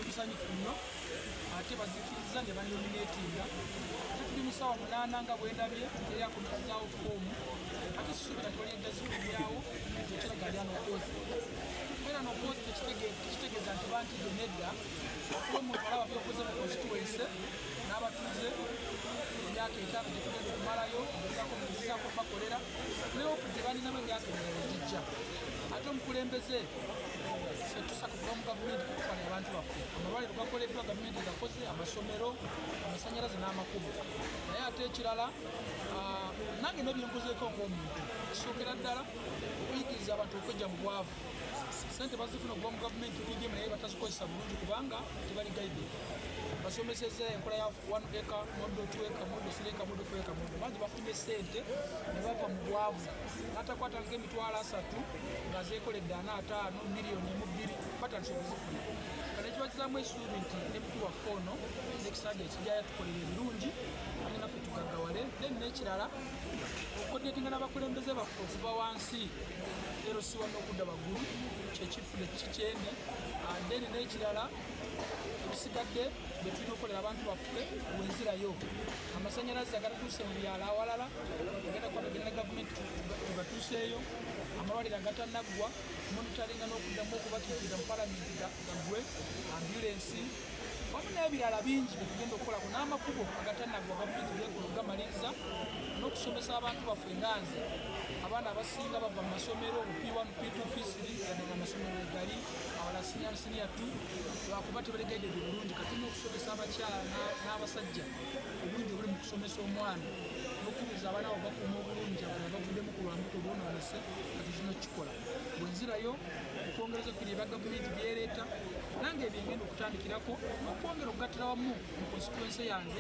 Tusanyufu nnyo ate bazikirizza ne banominatinga ate tuli mu ssaawa munaana nga bwendabye teyakumizzaawo foomu ate susuubira toledda zikubyawo ekiraga lya nokozi era nokozi tekitegeeza nti bantidde nedda kuba omuntu alaba byokoze mu konstituense n'abatuuze emyaka etaano gyetugenda okumalayo nzizako bakolera newoku gye balinamu emyaka emirala egijja ate omukulembeze nange nebyenkozeeko ngaomuntu kisokera ddala okuyigiriza abantu okwejja mu bwavu sente bazifuna okuva mu gavumenti udm naye batazikozesa bulungi kubanga tebali gaidi basomeseza enkola ya one acre modo two acre modo three acre modo four acre modo bangi ne sente ne bava mu bwavu n'atakwata nga emitwalo asatu nga zeekoledde ana ataano miliyoni emu bbiri batandise okuzifuna kale kiba kizaamu esuubi nti ne mukulu waffe ono nekisaaja ekijja yatukolera ebirungi ate naffe tugaggawale then n'ekirala okukodetinga n'abakulembeze baffe okuva wansi ero siwa n'okudda waggulu kyekifule kikyendi then n'ekirala tusigadde betulina okukolera abantu baffe wenzirayo amasanyalaze agatatuuse mu byalo awalala agenda kwabagenda ne gavumenti tugatuuseeyo amalwaliro agatanaggwa monitalinga n'okuddamu okubatuukirira mu palamenti gaggwe ambulensi wamu n'ebirala bingi byetugenda okukolako n'amakubo agatanaggwa gavumenti gekola okugamaliriza n'okusomesa abantu baffe enganzi abaana abasinga bava mu masomero p1 p2 p3 yadde nga amasomero egali awala si yattu lwakuba tebategedde bulungi kati n'okusomesa abakyala n'abasajja obulungi obuli mu kusomesa omwana n'okubuuza abaana abo bakuuma obulungi abana bavuddemu ku lwambuto bonoonese kati zino kikola bwe nzirayo okwongereza ku bino ebya gavumenti byereeta nange ebyengenda okutandikirako okwongera okugattira wamu mu konsituense yange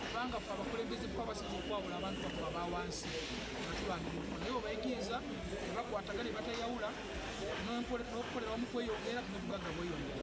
kubanga fe abakulembeze kuba basinza okwawula abantu bakuba bawansi nga tulwanira naye obayigiriza ebakwataga ne batayawula n'okukolera wamu kweyongera n'obugagga bweyongera.